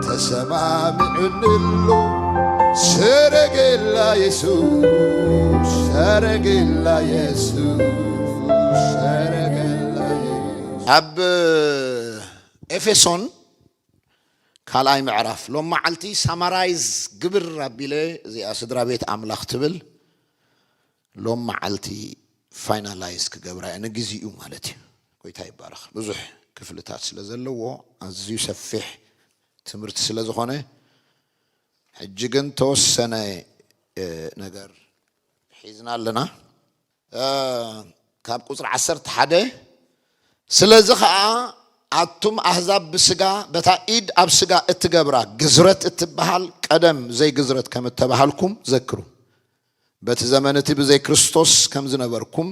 ተሰማሚዑንሉ ሰረገላ የሱስ ሰረገላ የሱስ ሰረገላ የሱስ ኣብ ኤፌሶን ካልኣይ ምዕራፍ ሎም መዓልቲ ሳማራይዝ ግብር ኣቢለ እዚኣ ስድራ ቤት ኣምላኽ ትብል ሎም መዓልቲ ፋይናላይዝ ክገብራ እየ ንግዚኡ ማለት እዩ ጎይታ ይባረክ ብዙሕ ክፍልታት ስለ ዘለዎ ኣዝዩ ሰፊሕ ትምህርቲ ስለ ዝኾነ ሕጂ ግን ተወሰነ እ፣ ነገር ሒዝና ኣለና እ፣ ካብ ቁፅሪ ዓሰርተ ሓደ ስለዚ ከዓ ኣቱም ኣህዛብ ብስጋ በታ ኢድ ኣብ ስጋ እትገብራ ግዝረት እትበሃል ቀደም ዘይግዝረት ከም እተባሃልኩም ዘክሩ በቲ ዘመን እቲ ብዘይ ክርስቶስ ከም ዝነበርኩም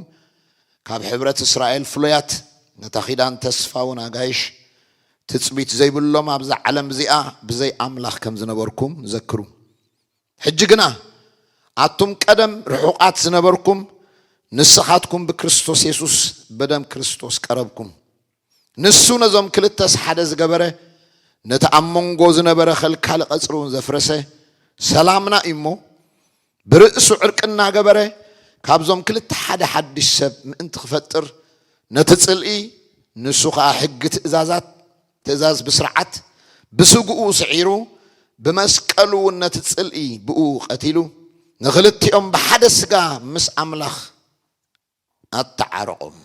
ካብ ሕብረት እስራኤል ፍሉያት ነታ ኪዳን ተስፋውን ኣጋይሽ ትጽቢት ዘይብሎም ኣብዛ ዓለም እዚኣ ብዘይ ኣምላኽ ከም ዝነበርኩም ዘክሩ ሕጂ ግና ኣቱም ቀደም ርሑቓት ዝነበርኩም ንስኻትኩም ብክርስቶስ የሱስ በደም ክርስቶስ ቀረብኩም ንሱ ነዞም ክልተስ ሓደ ዝገበረ ነቲ ኣብ መንጎ ዝነበረ ከልካሊ ቀጽሪውን ዘፍረሰ ሰላምና እዩሞ ብርእሱ ዕርቂ እናገበረ ካብዞም ክልተ ሓደ ሓድሽ ሰብ ምእንቲ ክፈጥር ነቲ ጽልኢ ንሱ ከኣ ሕጊ ትእዛዛት ትእዛዝ ብስርዓት ብስግኡ ስዒሩ ብመስቀሉ እውን ነቲ ጽልኢ ብእኡ ቀቲሉ ንክልቲኦም ብሓደ ስጋ ምስ ኣምላኽ ኣተዓረቖም።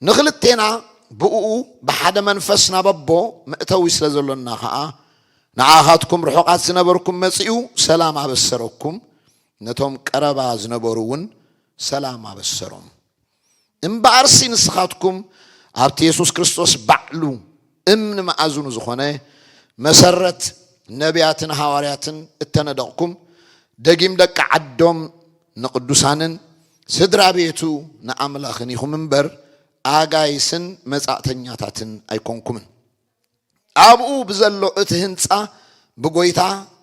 ንኽልቴና ብእኡ ብሓደ መንፈስ ናብ ኣቦ መእተዊ ስለ ዘሎና ኸኣ፣ ንኣኻትኩም ርሑቓት ዝነበርኩም መጺኡ ሰላም ኣበሰረኩም፣ ነቶም ቀረባ ዝነበሩውን ሰላም ኣበሰሮም። እምበኣርሲ ንስኻትኩም ኣብቲ የሱስ ክርስቶስ ባዕሉ፣ እምኒ መኣዝኑ ዝኾነ መሰረት ነብያትን ሃዋርያትን እተነደቕኩም ደጊም ደቂ ዓዶም ንቕዱሳንን ስድራ ቤቱ ንኣምላኽን ኢኹም እምበር ኣጋይስን መጻእተኛታትን ኣይኮንኩምን። ኣብኡ ብዘሎ እቲ ህንጻ ብጎይታ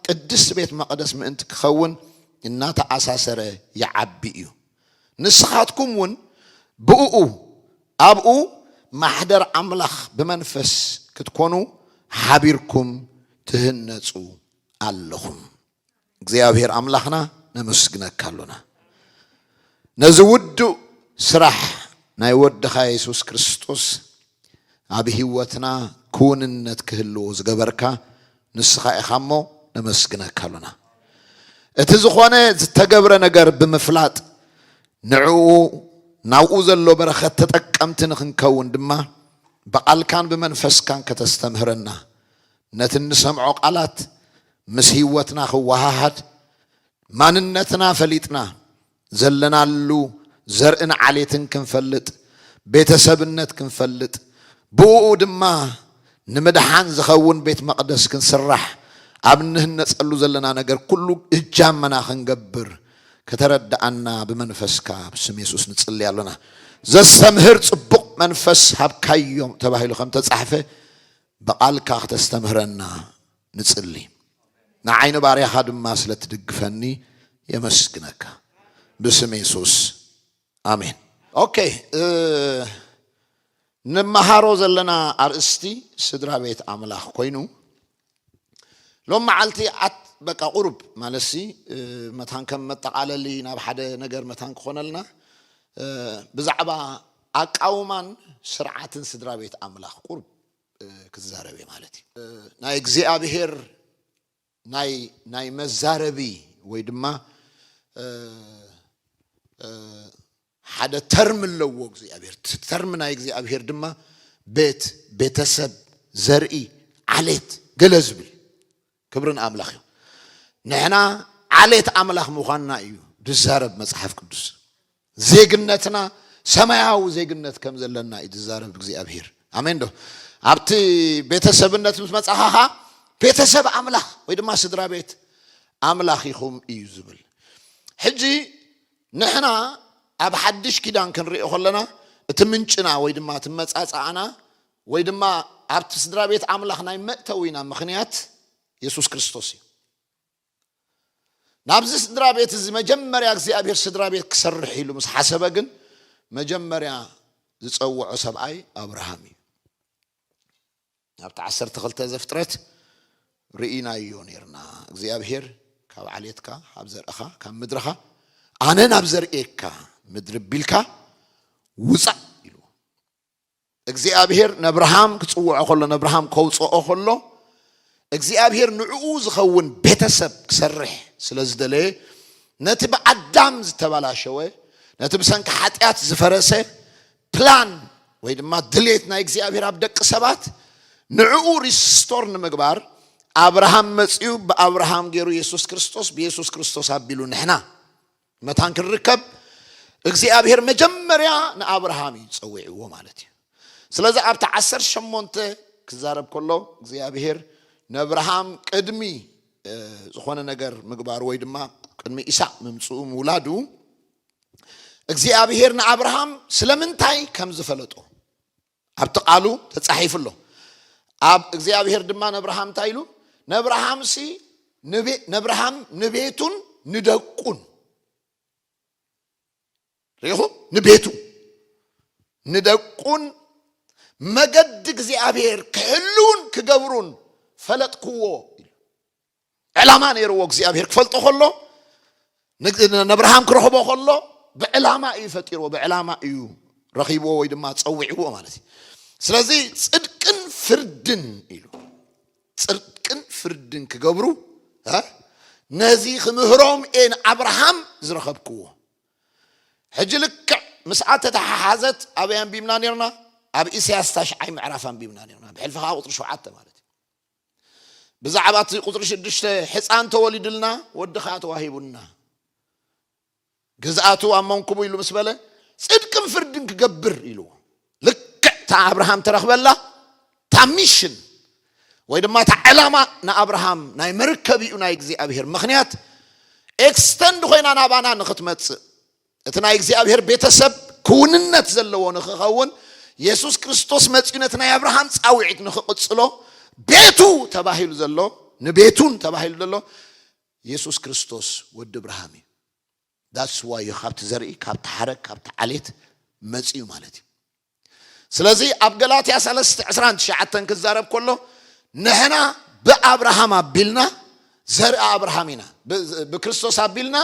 ቅድስት ቤት መቕደስ ምእንቲ ክኸውን እናተኣሳሰረ ይዓቢ እዩ። ንስኻትኩም እውን ብእኡ፣ ኣብኡ፣ ማሕደር ኣምላኽ ብመንፈስ ክትኮኑ ሓቢርኩም ትህነጹ ኣለኹም። እግዚኣብሔር ኣምላኽና ነመስግነካ ኣሎና ነዚ ውዱእ ስራሕ ናይ ወድኻ የሱስ ክርስቶስ፣ ኣብ ሂወትና ክውንነት ክህልው ዝገበርካ ንስኻ ኢኻ እሞ ነመስግነካ ኣሎና እቲ ዝኾነ ዝተገብረ ነገር ብምፍላጥ ንዕኡ ናብኡ ዘሎ በረኸት ተጠቀምቲ ንኽንከውን ድማ ብቓልካን ብመንፈስካን ከተስተምህረና ነቲ እንሰምዖ ቓላት ምስ ሂወትና ክወሃሃድ ማንነትና ፈሊጥና ዘለናሉ ዘርእን ዓሌትን ክንፈልጥ፣ ቤተሰብነት ክንፈልጥ፣ ብኡኡ ድማ ንምድሓን ዝኸውን ቤት መቕደስ ክንስራሕ፣ ኣብ እንህነጸሉ ዘለና ነገር ኩሉ እጃመና ክንገብር ከተረድኣና ብመንፈስካ ብስም የሱስ ንጽሊ ኣሎና። ዘስተምህር ጽቡቕ መንፈስ ሃብካዮም ተባሂሉ ከምተጻሕፈ ብቓልካ ክተስተምህረና ንጽሊ። ንዓይ ንባርያኻ ድማ ስለ ትድግፈኒ የመስግነካ ብስም የሱስ ኣሜን። ኦኬ ንመሃሮ ዘለና ኣርእስቲ ስድራ ቤት ኣምላኽ ኮይኑ ሎም መዓልቲ ኣት በቃ ቁሩብ ማለትሲ መታን ከም መጠቓለሊ ናብ ሓደ ነገር መታን ክኾነልና ብዛዕባ ኣቃውማን ስርዓትን ስድራ ቤት ኣምላኽ ቁሩብ ክዛረብ እየ ማለት እዩ ናይ እግዚኣብሄር ናይ ናይ መዛረቢ ወይ ድማ ሓደ ተርም ኣለዎ እግዚኣብሄር ተርም ናይ እግዚኣብሄር ድማ ቤት ቤተሰብ ዘርኢ ዓሌት ገለ ዝብል ክብሪ ንኣምላኽ ይኹን። ንሕና ዓሌት ኣምላኽ ምዃንና እዩ ዝዛረብ መጽሓፍ ቅዱስ። ዜግነትና ሰማያዊ ዜግነት ከም ዘለና እዩ ዝዛረብ እግዚኣብሄር። ኣሜን ዶ? ኣብቲ ቤተሰብነት ምስ መጻኻ ኸኣ ቤተሰብ ኣምላኽ ወይ ድማ ስድራ ቤት ኣምላኽ ኢኹም እዩ ዝብል። ሕጂ ንሕና ኣብ ሓድሽ ኪዳን ክንሪኦ ከለና እቲ ምንጭና ወይ ድማ እቲ መጻጽኣና ወይ ድማ ኣብቲ ስድራ ቤት ኣምላኽ ናይ መእተዊና ምኽንያት የሱስ ክርስቶስ እዩ። ናብዚ ስድራ ቤት እዚ መጀመርያ እግዚኣብሔር ስድራ ቤት ክሰርሕ ኢሉ ምስ ሓሰበ ግን መጀመርያ ዝጸውዖ ሰብኣይ ኣብርሃም እዩ። ናብቲ ዓሰርተ ክልተ ዘፍጥረት ርኢናዮ ነርና እግዚኣብሔር ካብ ዓሌትካ ካብ ዘርእኻ ካብ ምድርኻ ኣነ ናብ ዘርእየካ ምድሪ ቢልካ ውፃእ ኢሉ እግዚኣብሄር ነብርሃም ክጽውዖ ከሎ ነብርሃም ከውጽኦ ከሎ እግዚኣብሄር ንዕኡ ዝኸውን ቤተሰብ ክሰርሕ ስለ ዝደለየ ነቲ ብኣዳም ዝተባላሸወ ነቲ ብሰንኪ ሓጢኣት ዝፈረሰ ፕላን ወይ ድማ ድሌት ናይ እግዚኣብሄር ኣብ ደቂ ሰባት ንዕኡ ሪስቶር ንምግባር ኣብርሃም መጽኡ ብኣብርሃም ገይሩ የሱስ ክርስቶስ ብየሱስ ክርስቶስ ኣቢሉ ንሕና መታን ክንርከብ እግዚኣብሔር መጀመርያ ንኣብርሃም እዩ ፀዊዕዎ ማለት እዩ ስለዚ ኣብቲ ዓሰርተ ሸሞንተ ክዛረብ ከሎ እግዚኣብሔር ነኣብርሃም ቅድሚ እ፣ ዝኾነ ነገር ምግባሩ ወይ ድማ ቅድሚ ኢሳቅ ምምፅኡ ምውላዱ እግዚኣብሔር ንኣብርሃም ስለምንታይ ከም ዝፈለጦ ኣብቲ ቃሉ ተጻሒፉ ኣሎ ኣብ እግዚኣብሔር ድማ ነብርሃም እንታይ ኢሉ ነብርሃምሲ ነብርሃም ንቤቱን ንደቁን ሪኹ ንቤቱ ንደቁን መገዲ እግዚኣብሔር ክሕልውን ክገብሩን ፈለጥክዎ ኢሉ ዕላማ ነይርዎ እግዚኣብሄር ክፈልጦ ከሎ ነብርሃም ክረኽቦ ከሎ ብዕላማ እዩ ፈጢርዎ ብዕላማ እዩ ረኺብዎ ወይ ድማ ፀዊዕዎ ማለት እዩ ስለዚ ፅድቅን ፍርድን ኢሉ ፅድቅን ፍርድን ክገብሩ ነዚ ክምህሮም እየ ንኣብርሃም ዝረኸብክዎ ሕጂ ልክዕ ምስኣ ተተሓሓዘት ኣበይ ኣንቢብና ነርና ኣብ ኢሳያስ ታሽዓይ ምዕራፍ ኣንቢብና ነርና ብሕልፊ ከዓ ቁፅሪ ሸውዓተ ማለት እዩ ብዛዕባ እቲ ቁፅሪ ሽዱሽተ ሕፃን ተወሊዱልና ወዲ ከዓ ተዋሂቡና ግዝኣቱ ኣብ መንኩቡ ኢሉ ምስ በለ ፅድቅን ፍርድን ክገብር ኢልዎ ልክዕ እታ ኣብርሃም ተረክበላ እታ ሚሽን ወይ ድማ እታ ዕላማ ንኣብርሃም ናይ መርከቢኡ ናይ እግዚኣብሄር ምክንያት ኤክስተንድ ኮይና ናባና ንክትመፅእ እቲ ናይ እግዚኣብሔር ቤተ ሰብ ክውንነት ዘለዎ ንክኸውን የሱስ ክርስቶስ መጺኡ ነቲ ናይ ኣብርሃም ጻውዒት ንክቕጽሎ ቤቱ ተባሂሉ ዘሎ ንቤቱን ተባሂሉ ዘሎ የሱስ ክርስቶስ ወዲ እብርሃም እዩ ዳትስ ዋዮ ካብቲ ዘርኢ ካብቲ ሓረግ ካብቲ ዓሌት መጺኡ ማለት እዩ ስለዚ ኣብ ገላትያ ሰለስተ ዕስራን ትሽዓተን ክዛረብ ከሎ ንሕና ብኣብርሃም ኣቢልና ዘርኢ ኣብርሃም ኢና ብክርስቶስ ኣቢልና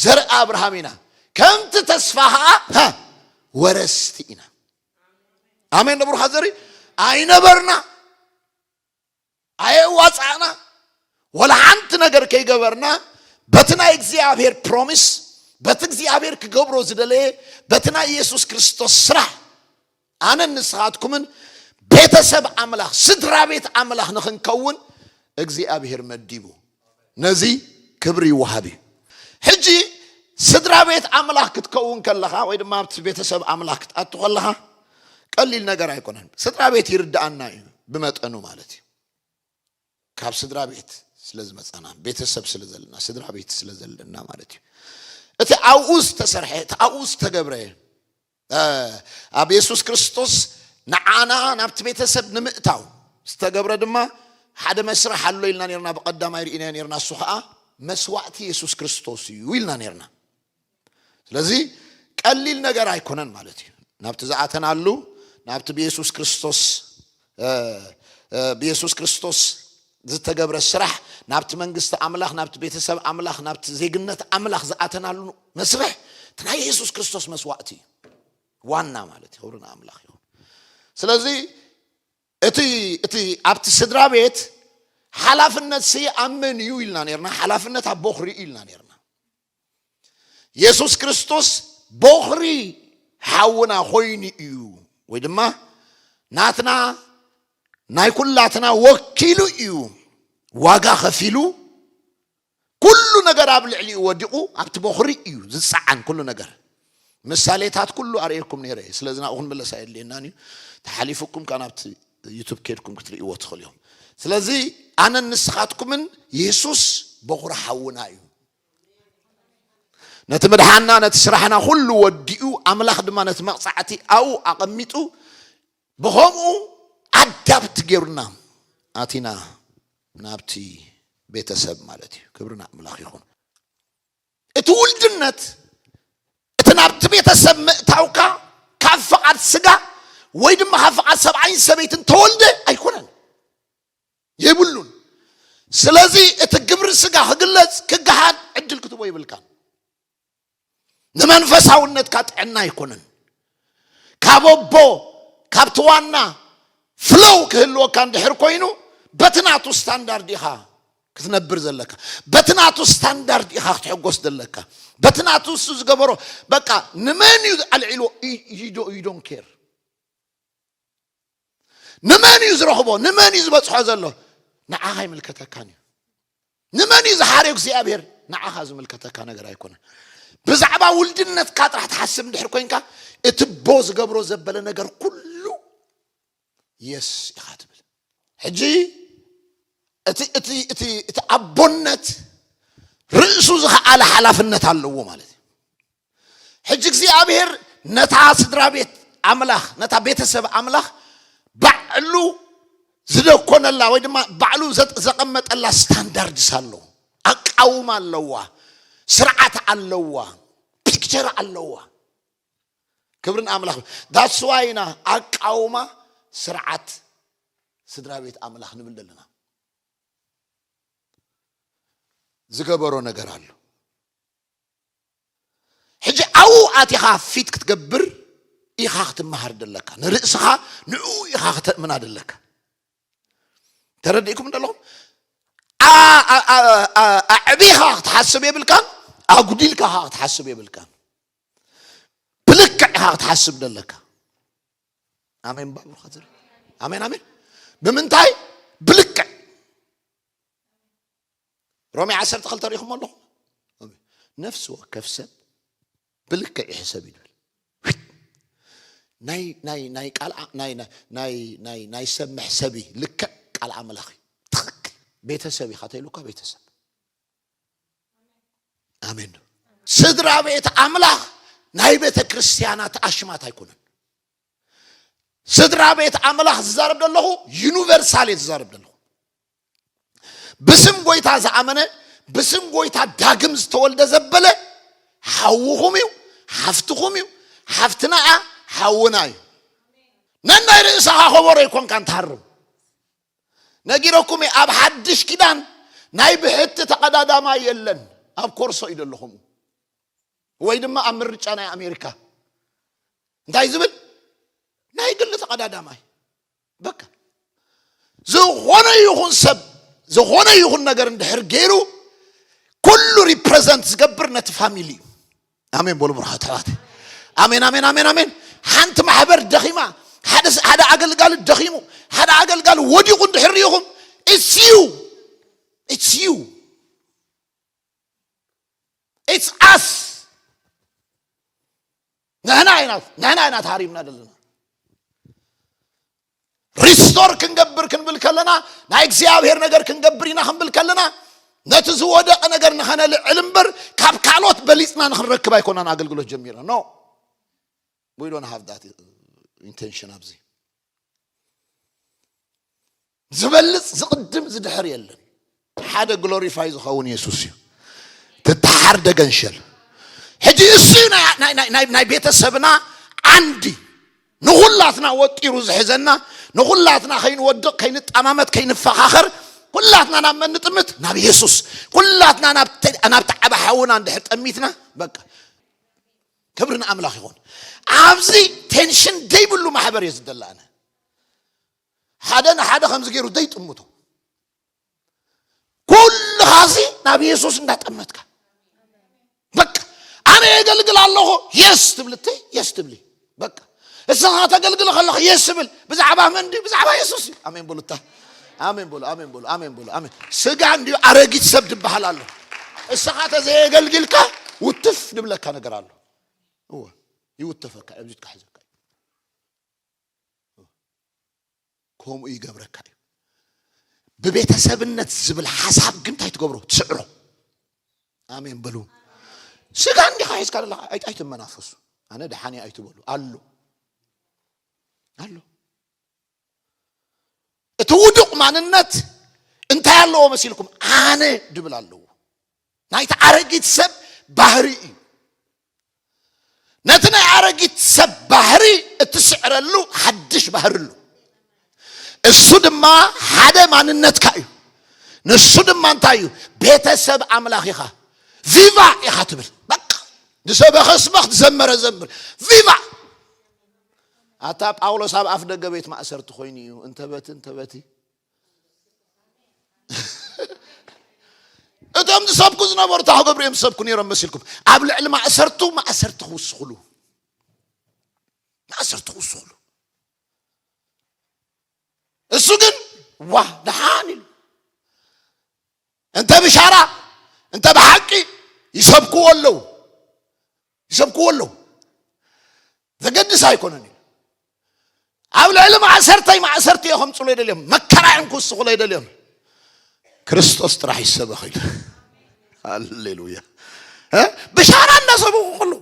ዘርኢ ኣብርሃም ኢና ከምቲ ተስፋ ከዓ ወረስቲ ኢና ኣሜን ደብሩካ ዘርኢ ኣይነበርና ኣየዋጻእና ወላ ሓንቲ ነገር ከይገበርና በቲ ናይ እግዚኣብሔር ፕሮሚስ በቲ እግዚኣብሔር ክገብሮ ዝደለየ በቲ ናይ ኢየሱስ ክርስቶስ ስራሕ ኣነን ንስኻትኩምን ቤተሰብ ኣምላኽ ስድራ ቤት ኣምላኽ ንኽንከውን እግዚኣብሔር መዲቡ ነዚ ክብሪ ይወሃብ እዩ ሕጂ ስድራ ቤት ኣምላኽ ክትከውን ከለኻ ወይ ድማ ኣብቲ ቤተሰብ ኣምላኽ ክትኣቱ ከለኻ ቀሊል ነገር ኣይኮነን ስድራ ቤት ይርዳኣና እዩ ብመጠኑ ማለት እዩ ካብ ስድራ ቤት ስለ ዝመፃና ቤተሰብ ስለ ዘለና ስድራ ቤት ስለ ዘለና ማለት እዩ እቲ ኣብኡ ዝተሰርሐ እቲ ኣብኡ ዝተገብረ ኣብ የሱስ ክርስቶስ ንዓና ናብቲ ቤተሰብ ንምእታው ዝተገብረ ድማ ሓደ መስርሕ ኣሎ ኢልና ነርና ብቐዳማይ ርኢናዮ ነርና እሱ ከዓ መስዋእቲ የሱስ ክርስቶስ እዩ ኢልና ነርና ስለዚ ቀሊል ነገር ኣይኮነን ማለት እዩ ናብቲ ዝኣተናሉ ናብቲ ብየሱስ ክርስቶስ ብየሱስ ክርስቶስ ዝተገብረ ስራሕ ናብቲ መንግስቲ ኣምላኽ ናብቲ ቤተሰብ ኣምላኽ ናብቲ ዜግነት ኣምላኽ ዝኣተናሉ መስርሕ እቲ ናይ የሱስ ክርስቶስ መስዋእቲ እዩ ዋና ማለት እዩ ክብሪ ንኣምላኽ ይኹን ስለዚ እቲ እቲ ኣብቲ ስድራ ቤት ሓላፍነት ሲ ኣብ መን እዩ ኢልና ነርና ሓላፍነት ኣብ ቦኽሪ እዩ ኢልና ነርና የሱስ ክርስቶስ ቦኽሪ ሓውና ኮይኑ እዩ ወይ ድማ ናትና ናይ ኩላትና ወኪሉ እዩ ዋጋ ከፊሉ ኩሉ ነገር ኣብ ልዕሊኡ ወዲቑ ኣብቲ ቦኽሪ እዩ ዝፀዓን ኩሉ ነገር ምሳሌታት ኩሉ ኣርእየኩም ነይረ እየ ስለዚ ናብኡ ክንምለስ ኣየድልየናን እዩ ተሓሊፉኩም ካብ ናብቲ ዩቱብ ኬድኩም ክትርእይዎ ትኽእሉ እዮም ስለዚ ኣነን ንስኻትኩምን የሱስ ቦኽሪ ሓውና እዩ ነቲ ምድሓና ነቲ ስራሕና ኩሉ ወዲኡ ኣምላኽ ድማ ነቲ መቕጻዕቲ ኣብኡ ኣቐሚጡ ብኸምኡ ኣዳብት ጌሩና ኣቲና ናብቲ ቤተሰብ ማለት እዩ ክብሪ ንኣምላኽ ይኹን እቲ ውልድነት እቲ ናብቲ ቤተሰብ ምእታውካ ካብ ፍቓድ ስጋ ወይ ድማ ካብ ፍቓድ ሰብኣይን ሰበይትን ተወልደ ኣይኮነን የብሉን። ስለዚ እቲ ግብሪ ስጋ ክግለጽ ክገሃድ ዕድል ክትቦ የብልካን። ንመንፈሳውነትካ ጥዕና ኣይኮነን። ካብ ኣቦ ካብቲ ዋና ፍሎው ክህልወካ እንድሕር ኮይኑ በቲ ናቱ ስታንዳርድ ኢኻ ክትነብር ዘለካ በቲ ናቱ ስታንዳርድ ኢኻ ክትሕጎስ ዘለካ በቲ ናቱ እሱ ዝገበሮ በቃ ንመን እዩ ኣልዒልዎ ዩ ዶን ኬር ንመን እዩ ዝረኽቦ ንመን እዩ ዝበፅሖ ዘሎ ንዓኻ ይምልከተካን እዩ ንመን እዩ ዝሓርዮ እግዚኣብሔር ንዓኻ ዝምልከተካ ነገር ኣይኮነን ብዛዕባ ውልድነትካ ጥራሕ ትሓስብ እንድሕር ኮንካ እቲ ቦ ዝገብሮ ዘበለ ነገር ኩሉ የስ ኢኻ ትብል ሕጂ እቲ እቲ እቲ እቲ ኣቦነት ርእሱ ዝኸኣለ ሓላፍነት ኣለዎ ማለት እዩ ሕጂ እግዚኣብሔር ነታ ስድራ ቤት ኣምላኽ ነታ ቤተሰብ ኣምላኽ ባዕሉ ዝደኮነላ ወይ ድማ ባዕሉ ዘቐመጠላ ስታንዳርድስ ኣለዎ ኣቃውማ ኣለዋ ስርዓት ኣለዋ ፒክቸር ኣለዋ ክብርን ኣምላኽ ዳስዋ ኢና ኣቃውማ ስርዓት ስድራ ቤት ኣምላኽ ንብል ዘለና ዝገበሮ ነገር ኣሎ ሕጂ ኣብኡ ኣቲኻ ፊት ክትገብር ኢኻ ክትመሃር ደለካ ንርእስኻ ንኡ ኢኻ ክተእምና ደለካ ተረዲእኩም ደለኹም ኣዕቢኻ ክትሓስብ የብልካን ኣጉዲልካ ኸ ክትሓስብ የብልካን ብልክዕ ኢኻ ክትሓስብ ደለካ ኣሜን ባብርካ ኣሜን ኣሜን ብምንታይ ብልክዕ ሮሜ ዓሰርተ ክልተ ሪኢኹሞ ኣለኹም ነፍሲ ወከፍ ሰብ ብልክዕ ይሕሰብ እዩ ዝብል ናይ ናይ ናይ ቃልዓ ናይ ናይ ናይ ናይ ናይ ሰብ መሕሰቢ ልክዕ ቃል ኣምላኽ እዩ ትኽክል ቤተሰብ ኢኻ ተይሉካ ቤተሰብ ኣሜን ዶ ስድራ ቤት ኣምላኽ ናይ ቤተ ክርስቲያናት ኣሽማት ኣይኮነን ስድራ ቤት ኣምላኽ ዝዛረብ ዘለኹ ዩኒቨርሳል እየ ዝዛረብ ዘለኹ ብስም ጎይታ ዝኣመነ ብስም ጎይታ ዳግም ዝተወልደ ዘበለ ሓውኹም እዩ ሓፍትኹም እዩ ሓፍትና እያ ሓውና እዩ ነናይ ርእስኻ ከበሮ ይኮንካን ትሃርም ነጊረኩም እየ ኣብ ሓድሽ ኪዳን ናይ ብሕቲ ተቐዳዳማ የለን ኣብ ኮርሶ እዩ ዘለኹም ወይ ድማ ኣብ ምርጫ ናይ ኣሜሪካ እንታይ ዝብል ናይ ግሊ ተቐዳዳማይ በቃ ዝኾነ ይኹን ሰብ ዝኾነ ይኹን ነገር እንድሕር ገይሩ ኩሉ ሪፕሬዘንት ዝገብር ነቲ ፋሚሊ እዩ ኣሜን በሉ ብርሃት ኣሕዋት ኣሜን ኣሜን ኣሜን ኣሜን ሓንቲ ማሕበር ደኺማ ሓደ ስ- ሓደ ኣገልጋሊ ደኺሙ ሓደ ኣገልጋሊ ወዲቑ እንድሕር ሪኢኹም ኢትስ ዩ ኢትስ ዩ ኢትስ ኣስ ንሕና ኢና ንሕና ኢና ተሃሪምና ዘለና ሪስቶር ክንገብር ክንብል ከለና ናይ እግዚኣብሔር ነገር ክንገብር ኢና ክንብል ከለና ነቲ ዝወደቐ ነገር ንኸነልዕል እምበር ካብ ካልኦት በሊፅና ንክንረክብ ኣይኮናን ኣገልግሎት ጀሚርና ኖ ዊዶን ሃቭ ዳት ኢንቴንሽን ኣብዚ ዝበልጽ ዝቕድም ዝድሕር የለን ሓደ ግሎሪፋይ ዝኸውን የሱስ እዩ ትተሓር ደገንሸል ሕጂ እሱ ናይ ቤተሰብና ዓንዲ ንኹላትና ወጢሩ ዝሕዘና ንኹላትና ከይንወድቕ ከይንጠማመት ከይንፈኻኸር ኩላትና ናብ መን ንጥምት ናብ የሱስ ኩላትና ናብቲ ዓበ ሓውና እንድሕር ጠሚትና በቃ ክብሪ ንኣምላኽ ይኹን ኣብዚ ቴንሽን ዘይብሉ ማሕበር እየ ዝደላነ ሓደ ንሓደ ከምዚ ገይሩ ዘይጥምቶ ኩልኻ እዚ ናብ የሱስ እንዳጠመትካ በቃ ኣነ የገልግል ኣለኹ የስ ትብል እተይ የስ ትብሊ በቃ እስኻ ተገልግል ከለኹ የስ ትብል ብዛዕባ መን ድዩ ብዛዕባ የሱስ እዩ ኣሜን በሉታ ኣሜን በሉ ኣሜን በሉ ኣሜን በሉ ኣሜን ስጋ እንዲዩ ኣረጊት ሰብ ድበሃል ኣሎ እስኻ ተዘየገልግልካ ውትፍ ድብለካ ነገር ኣሎ እወ ይውተፈካ እብዚት ካሕዘካ ከምኡ ይገብረካ እዩ ብቤተሰብነት ዝብል ሓሳብ ግን እንታይ ትገብሮ ትስዕሮ ኣሜን በሉ ስጋ እንዲኻ ሒዝካ ዘለካ ኣይ- ኣይትመናፈሱ ኣነ ደሓን እየ ኣይትበሉ ኣሎ ኣሎ እቲ ውዱቕ ማንነት እንታይ ኣለዎ መሲልኩም ኣነ ድብል ኣለዎ ናይቲ ኣረጊት ሰብ ባህሪ እዩ ነቲ ናይ ኣረጊት ሰብ ባህሪ እትስዕረሉ ሓድሽ ባህሪ ኣሉ እሱ ድማ ሓደ ማንነትካ እዩ ንሱ ድማ እንታይ እዩ ቤተሰብ ኣምላኽ ኢኻ ቪቫ ኢኻ ትብል በቃ ንሰበኸ ስበኽ ዝዘመረ ዘምር ቪቫ ኣታ ጳውሎስ ኣብ ኣፍ ደገ ቤት ማእሰርቲ ኮይኑ እዩ እንተበቲ እንተበቲ እቶም ዝሰብኩ ዝነበሩ ታሁ ገብሪ እዮም ዝሰብኩ ነይሮም መሲልኩም ኣብ ልዕሊ ማእሰርቱ ማእሰርቲ ክውስኽሉ ማእሰርቲ ክውስኽሉ እሱ ግን ዋ ደሓን ኢሉ እንተ ብሻራ እንተ ብሓቂ ይሰብክዎ ኣለዉ ይሰብክዎ ኣለዉ ዘገድስ ኣይኮነን እዩ ኣብ ልዕሊ ማእሰርተይ ማእሰርቲ እዮ ከምፅሉ ይደልዮም መከራ እዮም ክውስኹሎ ይደልዮም ክርስቶስ ጥራሕ ይሰበኽ ኢሉ ሃሌሉያ ብሻራ እንዳሰብኹ ከለዉ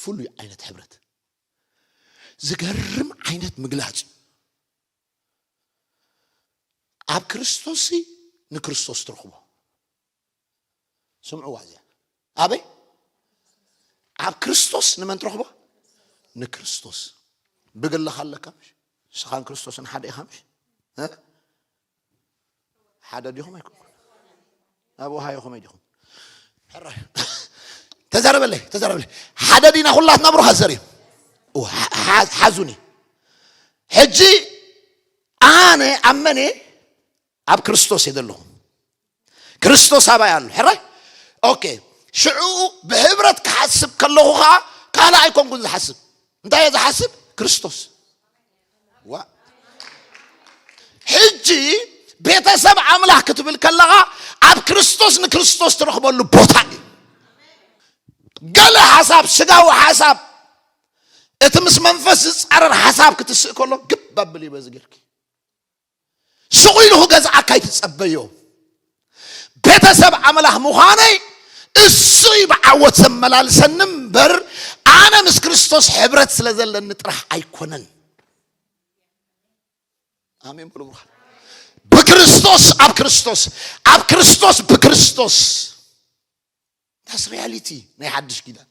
ፍሉይ ዓይነት ሕብረት ዝገርም ዓይነት ምግላጽ እዩ ኣብ ክርስቶስ ንክርስቶስ ትረኽቦ ስምዕዋ እዚኣ ኣበይ ኣብ ክርስቶስ ንመን ትረኽቦ ንክርስቶስ ብግልኻ ኣለካ ምሽ ንስኻን ክርስቶስን ሓደ ኢኻ ምሽ ሓደ ዲኹም ኣይኮንኩን ኣብ ውሃዮ ከመይ ዲኹም ሕራይ ተዛረበለይ ተዛረበለይ ሓደ ዲና ኩላትና ብሩኻት ዘር እዩ ሓዙኒ ሕጂ ኣነ ኣብ መን ኣብ ክርስቶስ እየ ዘለኹ ክርስቶስ ኣባይ ኣሎ ሕራይ ኦኬ ሽዑኡ ብሕብረት ክሓስብ ከለኹ ከዓ ካልእ ኣይኮንኩን ዝሓስብ እንታይ እየ ዝሓስብ ክርስቶስ ዋ ሕጂ ቤተሰብ ኣምላኽ ክትብል ከለኻ ኣብ ክርስቶስ ንክርስቶስ ትረኽበሉ ቦታ እዩ ገለ ሓሳብ ስጋዊ ሓሳብ እቲ ምስ መንፈስ ዝፃረር ሓሳብ ክትስእ ከሎ ግብ ኣብል እዩ በዚ ጌርኪ ስቕ ኢሉ ክገዝኣካ ኣይትጸበዮ። ቤተሰብ ኣምላኽ ምዃነይ እሱ እዩ ብዓወት ዘመላልሰኒ እምበር ኣነ ምስ ክርስቶስ ሕብረት ስለ ዘለኒ ጥራሕ ኣይኮነን። ኣሜን በሉ ብሩኻት። ብክርስቶስ ኣብ ክርስቶስ ኣብ ክርስቶስ ብክርስቶስ That's reality ናይ ሓድሽ ኪዳን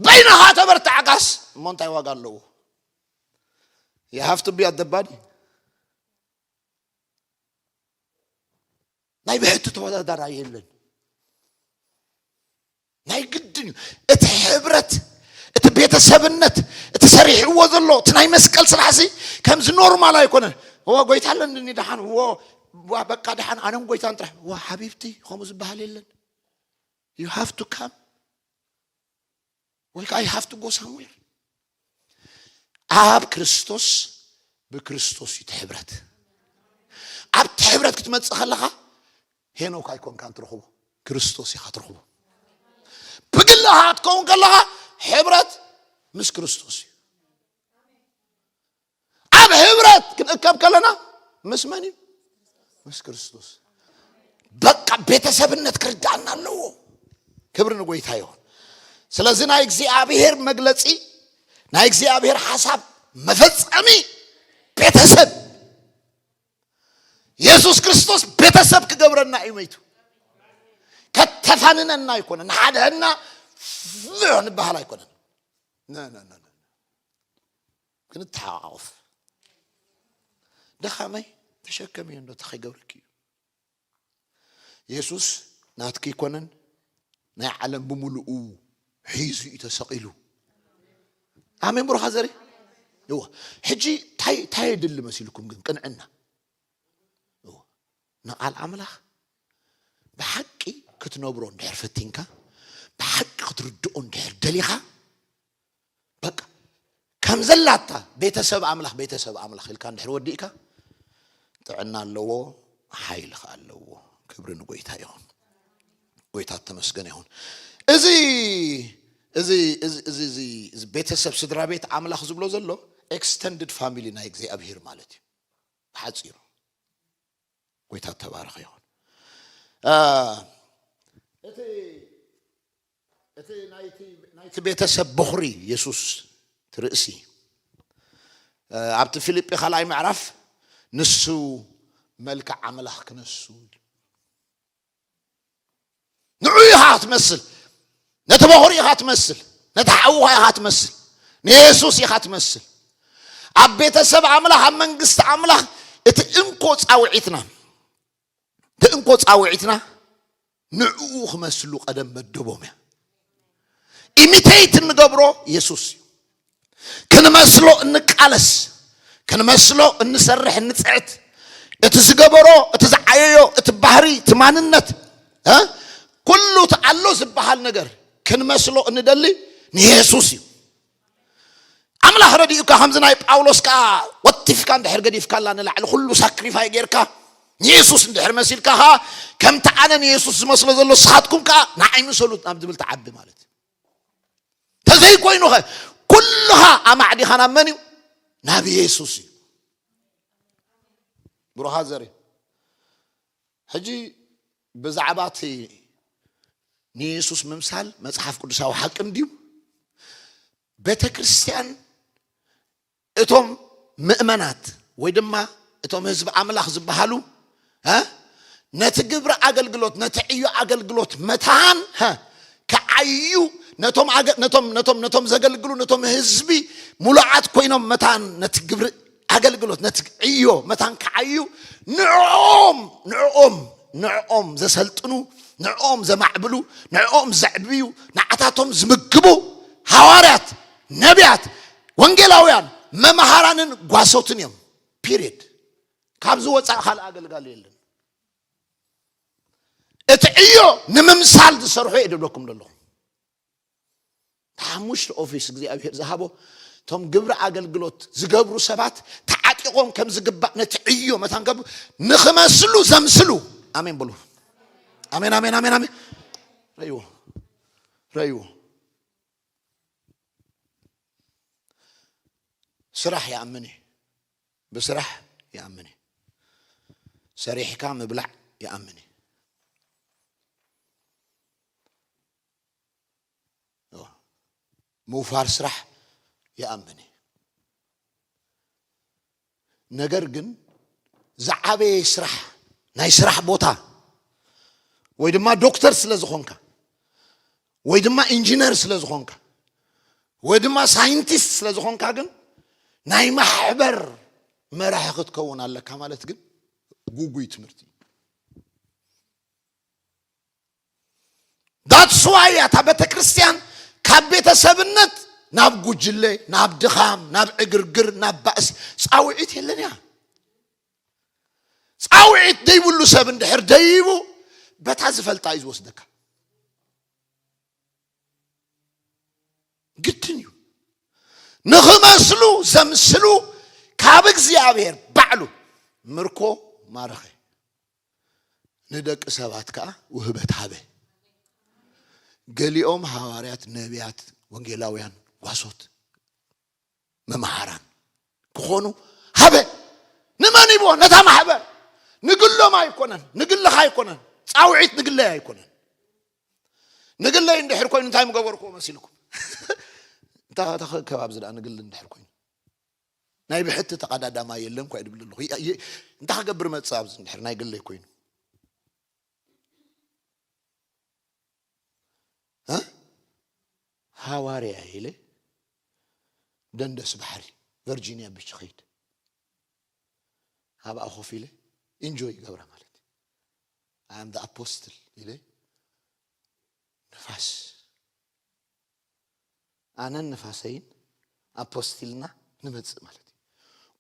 በይንኻ ተበርታዕካስ እሞ እንታይ ዋጋ ኣለዎ you have to be at the body ናይ ብሕቲ ተወዳዳራ የለን ናይ ግድን እዩ እቲ ሕብረት እቲ ቤተሰብነት እቲ ሰሪሕዎ ዘሎ እቲ ናይ መስቀል ስራሕ ሲ ከምዚ ኖርማል ኣይኮነን እዎ ጎይታ ኣለኒ ድሓን እዎ ዋ በቃ ደሓን ኣነን ጎይታን ጥራሕ ዋ ሓቢብቲ ከምኡ ዝበሃል የለን ዩ ሃቭ ቱ ካም ወይ ከዓ ዩ ሃቭ ቱ ጎ ሳምዌር ኣብ ክርስቶስ ብክርስቶስ እዩ እቲ ሕብረት ኣብቲ ሕብረት ክትመፅእ ከለኻ ሄኖክ ኣይኮንካን ትረኽቦ ክርስቶስ ኢኻ ትረኽቦ ብግልኻ ክትከውን ከለኻ ሕብረት ምስ ክርስቶስ እዩ ኣብ ህብረት ክንእከብ ከለና ምስ መን እዩ ምስ ክርስቶስ በቃ ቤተሰብነት ክርዳእና ኣለዎ ክብሪ ንጎይታ ይሆን ስለዚ ናይ እግዚኣብሔር መግለፂ ናይ እግዚኣብሔር ሓሳብ መፈፀሚ ቤተሰብ የሱስ ክርስቶስ ቤተሰብ ክገብረና እዩ መይቱ ከተፋንነና ኣይኮነን ሓድሕና ንበሃል ኣይኮነን ክንተሓቛቖፍ ድኻመይ ተሸከምዮ እንዶ እንታይ ከይገብረኪ እዩ የሱስ ናትኪ ኣይኮነን ናይ ዓለም ብምሉኡ ሒዙ እዩ ተሰቒሉ ኣሜን ብሩኻ ዘሪ እዎ ሕጂ ታይ ታይ የድሊ መሲልኩም ግን ቅንዕና እዎ ንቓል ኣምላኽ ብሓቂ ክትነብሮ እንድሕር ፈቲንካ ብሓቂ ክትርድኦ እንድሕር ደሊኻ በቃ ከም ዘላታ ቤተሰብ ኣምላኽ ቤተሰብ ኣምላኽ ኢልካ እንድሕር ወዲእካ ጥዕና ኣለዎ ሓይሊ ከዓ ኣለዎ ክብሪ ንጎይታ ይኹን ጎይታ ተመስገን ይኹን እዚ እዚ እዚ እዚ እዚ እዚ ቤተሰብ ስድራ ቤት ኣምላኽ ዝብሎ ዘሎ ኤክስተንድድ ፋሚሊ ናይ እግዚኣብሄር ማለት እዩ ብሓፂሩ ጎይታ ተባረኸ ይኹን እቲ እቲ ናይቲ ቤተሰብ በዅሪ የሱስ እቲ ርእሲ እዩ። ኣብቲ ፊልጲ ካልኣይ ምዕራፍ ንሱ መልክዕ ኣምላኽ ክነሱ ኢሉ ንዑ ኢኻ ትመስል ነቲ በዅሪ ኢኻ ትመስል ነቲ ሓውኻ ኢኻ ትመስል ንየሱስ ኢኻ ትመስል ኣብ ቤተሰብ ኣምላኽ ኣብ መንግስቲ ኣምላኽ እቲ እንኮ ፃውዒትና እቲ እንኮ ጻውዒትና ንዕኡ ክመስሉ ቀደም መደቦም እያ ኢሚቴት እንገብሮ የሱስ እዩ ክንመስሎ እንቃለስ ክንመስሎ እንሰርሕ እንፅዕት እቲ ዝገበሮ እቲ ዝዓየዮ እቲ ባህሪ እቲ ማንነት ኩሉ እቲ ኣሎ ዝበሃል ነገር ክንመስሎ እንደሊ ንየሱስ እዩ ኣምላኽ ረዲኡካ ከምዚ ናይ ጳውሎስ ከኣ ወቲፍካ እንድሕር ገዲፍካላ ንላዕሊ ኩሉ ሳክሪፋይ ጌርካ ንየሱስ እንድሕር መሲልካ ከኣ ከምቲ ኣነ ንየሱስ ዝመስሎ ዘሎ ንስኻትኩም ከኣ ንዓይ ምሰሉት ናብ ዝብል ትዓቢ ማለት እዩ ተዘይኮይኑ ኸ ኩልኻ ኣማዕዲኻ ናብ መን እዩ ናብ የሱስ እዩ ብሩኻ ዘርኢ ሕጂ ብዛዕባ እቲ ንየሱስ ምምሳል መጽሓፍ ቅዱሳዊ ሓቂ እንድዩ። ቤተ ክርስቲያን እቶም ምእመናት ወይ ድማ እቶም ህዝቢ ኣምላኽ ዝበሃሉ ነቲ ግብሪ ኣገልግሎት ነቲ ዕዮ ኣገልግሎት መታን ክዓዩ ነቶም ነቶም ነቶም ነቶም ዘገልግሉ ነቶም ህዝቢ ሙሉዓት ኮይኖም መታን ነቲ ግብሪ ኣገልግሎት ነቲ ዕዮ መታን ክዓዩ ንዕኦም ንዕኦም ንዕኦም ዘሰልጥኑ ንዕኦም ዘማዕብሉ ንዕኦም ዘዕብዩ ንዓታቶም ዝምግቡ ሃዋርያት ነቢያት ወንጌላውያን መምሃራንን ጓሶትን እዮም ፒሪድ ካብዚ ወፃእ ካልእ ኣገልጋሉ የለን እቲ ዕዮ ንምምሳል ዝሰርሑ እየ ደብለኩም ዘለኹም ሓሙሽተ ኦፊስ እግዚኣብሔር ዝሃቦ እቶም ግብሪ ኣገልግሎት ዝገብሩ ሰባት ተዓጢቖም ከም ዝግባእ ነቲ ዕዮ መታን ከብ ንክመስሉ ዘምስሉ ኣሜን በሉ ኣሜን ኣሜን ኣሜን ኣሜን ረይዎ ረይዎ ስራሕ ይኣምን እዩ ብስራሕ ይኣምን እዩ ሰሪሕካ ምብላዕ ይኣምን እዩ ምውፋር ስራሕ ይኣምን እዩ ነገር ግን ዝዓበየ ስራሕ ናይ ስራሕ ቦታ ወይ ድማ ዶክተር ስለ ዝኾንካ ወይ ድማ ኢንጂነር ስለ ዝኾንካ ወይ ድማ ሳይንቲስት ስለ ዝኾንካ ግን ናይ ማሕበር መራሒ ክትከውን ኣለካ ማለት ግን ጉጉይ ትምህርቲ እዩ ዳትስዋይ እያ እታ ቤተ ክርስቲያን ካብ ቤተሰብነት ናብ ጉጅለ ናብ ድኻም ናብ ዕግርግር ናብ ባእሲ ፃውዒት የለን እያ ፃውዒት ደይብሉ ሰብ እንድሕር ደይቡ በታ ዝፈልጣ እዩ ዝወስደካ ግድን እዩ ንኽመስሉ ዘምስሉ ካብ እግዚኣብሔር ባዕሉ ምርኮ ማረኸ ንደቂ ሰባት ከኣ ውህበት ሃበ። ገሊኦም ሃዋርያት፣ ነብያት፣ ወንጌላውያን፣ ጓሶት፣ መምሃራን ክኾኑ ሃበ። ንመን ሂብዎ? ነታ ማሕበር። ንግሎም ኣይኮነን፣ ንግልኻ ኣይኮነን፣ ጻውዒት ንግለይ ኣይኮነን። ንግለይ እንድሕር ኮይኑ እንታይ ምገበርክዎ መሲልኩም? እንታይ ከተኸከብ ኣብዚ ደኣ ንግል እንድሕር ኮይኑ ናይ ብሕቲ ተቀዳዳማይ የለን እኳ ይብል ኣለኹ እንታይ ክገብር መጽእ ኣብዚ እንድሕር ናይ ግለይ ኮይኑ ሃዋርያ ኢለ ደንደስ ባሕሪ ቨርጂኒያ ብች ኸይድ ኣብኣ ኮፍ ኢለ ኢንጆይ ይገብራ ማለት ኣም ኣፖስትል ኢለ ንፋስ ኣነን ንፋሰይን ኣብ ፖስት ኢልና ንመጽእ ማለት እዩ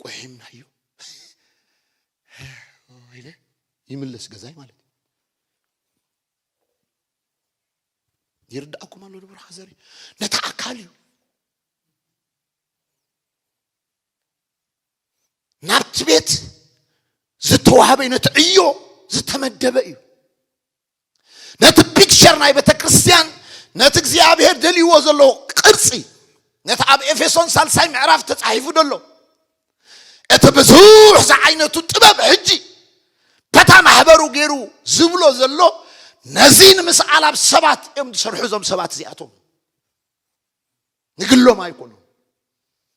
ቁሒምናዮ ኢለ ይምለስ ገዛይ ማለት እዩ ይርዳእኩም ኣሎ ዶ ብርሃ ዘሪ ነቲ ኣካል እዩ ናብቲ ቤት ዝተዋህበ ነቲ ዕዮ ዝተመደበ እዩ ነቲ ፒክቸር ናይ ቤተ ክርስቲያን ነቲ እግዚኣብሔር ደልይዎ ዘሎ ቅርፂ ነቲ ኣብ ኤፌሶን ሳልሳይ ምዕራፍ ተፃሒፉ ደሎ እቲ ብዙሕ ዝዓይነቱ ጥበብ ሕጂ በታ ማሕበሩ ገይሩ ዝብሎ ዘሎ ነዚ ንምስኣል ኣብ ሰባት እዮም ዝሰርሑ እዞም ሰባት እዚኣቶም ንግሎም ኣይኮኑን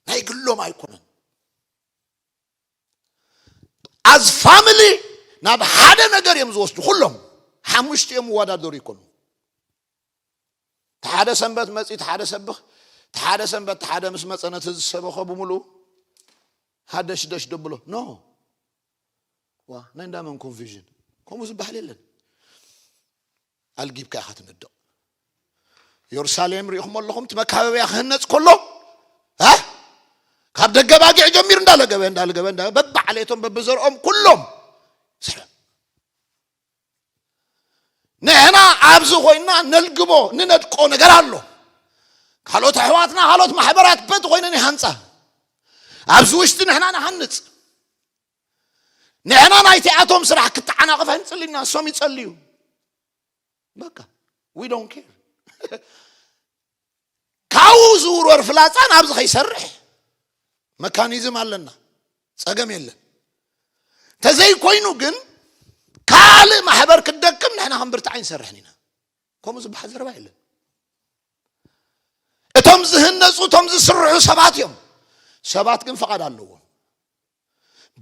ናይ ግሎም ኣይኮነን ኣዝ ፋሚሊ ናብ ሓደ ነገር እዮም ዝወስዱ ኩሎም ሓሙሽቲ እዮም ወዳደሩ ይኮኑ ተሓደ ሰንበት መፂ ተሓደ ሰብኽ ተሓደ ሰንበት ተሓደ ምስ መፀ ነቲ ዝሰበኸ ብምሉኡ ሃደሽደሽ ደብሎ ኖ ዋ ናይ እንዳመን ኮንፊዥን ከምኡ ዝበሃል የለን ኣልጊብካ ኢኻ ትነድቕ ዮርሳሌም ርኢኹም ኣለኹም እቲ መካበብያ ክህነፅ ከሎ ካብ ደገ ባጊዕ ጀሚሩ እንዳለገበ እንዳለገበ እንዳ በብዓሌቶም በብዘርኦም ኩሎም ስለም ንሕና ኣብዚ ኮይና ነልግቦ ንነድቆ ነገር ኣሎ ካልኦት ኣሕዋትና ካልኦት ማሕበራት በቲ ኮይነን ይሃንፃ ኣብዚ ውሽጢ ንሕና ንሃንፅ ንሕና ናይቲኣቶም ስራሕ ክተዓናቕፍ ኣይንጽልና እሶም ይጸልዩ በቃ ዊ ዶን ኬር ካብኡ ዝውርወር ፍላፃ ናብዚ ከይሰርሕ መካኒዝም ኣለና ፀገም የለን ተዘይኮይኑ ግን ካልእ ማሕበር ክደክም ንሕና ክንብርትዕ ኣይንሰርሕን ኢና ከምኡ ዝበሃል ዘረባ የለን እቶም ዝህነፁ እቶም ዝስርሑ ሰባት እዮም ሰባት ግን ፈቓድ ኣለዎም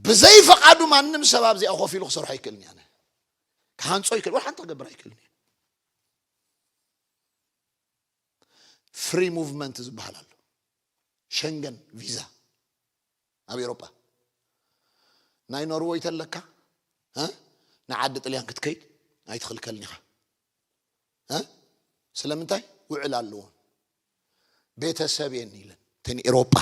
ብዘይ ፈቓዱ ማንም ሰብ ኣብዚኣ ኮፍ ኢሉ ክሰርሖ ኣይክእልን እያ ክሃንፆ ኣይክእል ወይ ሓንቲ ክገብር ኣይክእልን እዩ ፍሪ ሙቭመንት ዝበሃል ኣሎ ሸንገን ቪዛ ኣብ ኤሮጳ ናይ ኖርወይ ተለካ ንዓዲ ጥልያን ክትከይድ ኣይትኽልከልን ኢኻ እ ስለምንታይ ውዕል ኣለዎም ቤተሰብ የን ኢለን ተን ኤሮጳ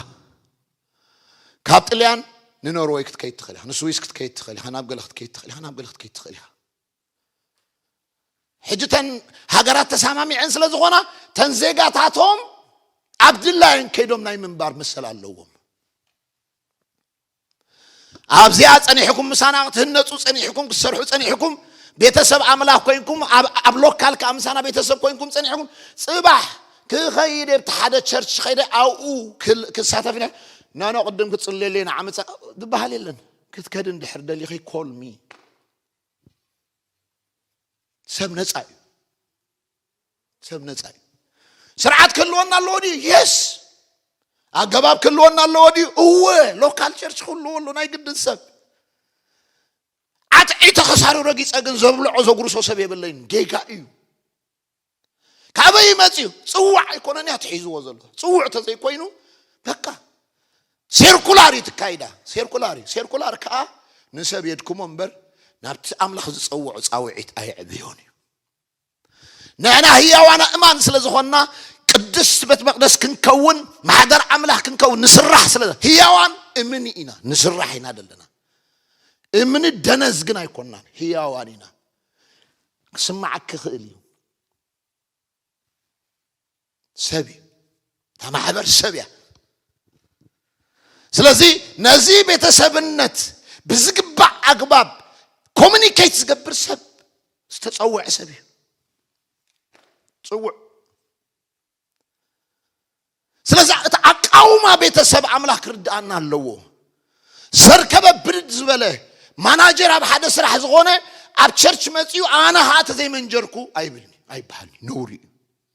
ካብ ጥልያን ንኖርወይ ክትከይድ ትኽእል ኢኻ ንስዊስ ክትከይድ ትኽእል ኢኻ ናብ ገለ ክትከይድ ትኽእል ኢኻ ናብ ገለ ክትከይድ ትኽእል ኢኻ ሕጂ ተን ሃገራት ተሰማሚዐን ስለ ዝኾና ተን ዜጋታቶም ኣብ ድላየን ከይዶም ናይ ምንባር መሰል ኣለዎም ኣብዚኣ ጸኒሕኩም ምሳና ክትህነጹ ጸኒሕኩም ክትሰርሑ ጸኒሕኩም ቤተሰብ ኣምላኽ ኮይንኩም ኣብ ሎካል ከዓ ምሳና ቤተሰብ ኮይንኩም ጸኒሕኩም ጽባሕ ክኸይድ ኣብቲ ሓደ ቸርች ከይደ ኣብኡ ክሳተፍ ነ ናኖ ቅድም ክጽልየለይ ንዓመፀ ዝበሃል የለን ክትከድ እንድሕር ደሊኺ ኮልሚ ሰብ ነፃ እዩ ሰብ ነፃ እዩ ስርዓት ክህልወና ኣለዎ ድዩ የስ ኣገባብ ክህልወና ኣለዎ ድዩ እወ ሎካል ቸርች ክህልዎ ኣሎ ናይ ግድን ሰብ ዓጥዒ ተኸሳሪ ረጊፀ ግን ዘብልዖ ዘጉርሶ ሰብ የብለይን ጌጋ እዩ ካበይ ይመፅዩ ፅዋዕ ኣይኮነን እያ ትሒዝዎ ዘሎ ፅውዕ ተዘይኮይኑ በቃ ሴርኩላር እዩ ትካይዳ ሴርኩላር እዩ ሴርኩላር ከዓ ንሰብ የድክሞ እምበር ናብቲ ኣምላኽ ዝፀውዖ ፃውዒት ኣየዕብዮን እዩ ንሕና ህያዋን ኣእማን ስለ ዝኾንና ቅድስት ቤት መቅደስ ክንከውን ማሕደር ኣምላኽ ክንከውን ንስራሕ ስለ ህያዋን እምኒ ኢና ንስራሕ ኢና ዘለና እምኒ ደነዝ ግን ኣይኮናን ህያዋን ኢና ክስማዕ ክኽእል እዩ ሰብ እዩ እታ ማሕበር ሰብ እያ ስለዚ ነዚ ቤተሰብነት ብዝግባእ ኣግባብ ኮሚኒኬት ዝገብር ሰብ ዝተፀውዐ ሰብ እዩ ፅውዕ ስለዚ እቲ ኣቃውማ ቤተሰብ ኣምላኽ ክርድኣና ኣለዎ ዘርከበ ብድድ ዝበለ ማናጀር ኣብ ሓደ ስራሕ ዝኾነ ኣብ ቸርች መፅኡ ኣነ ከዓ ተዘይመንጀርኩ ኣይብልኒ ኣይበሃልኒ ነውሪ እዩ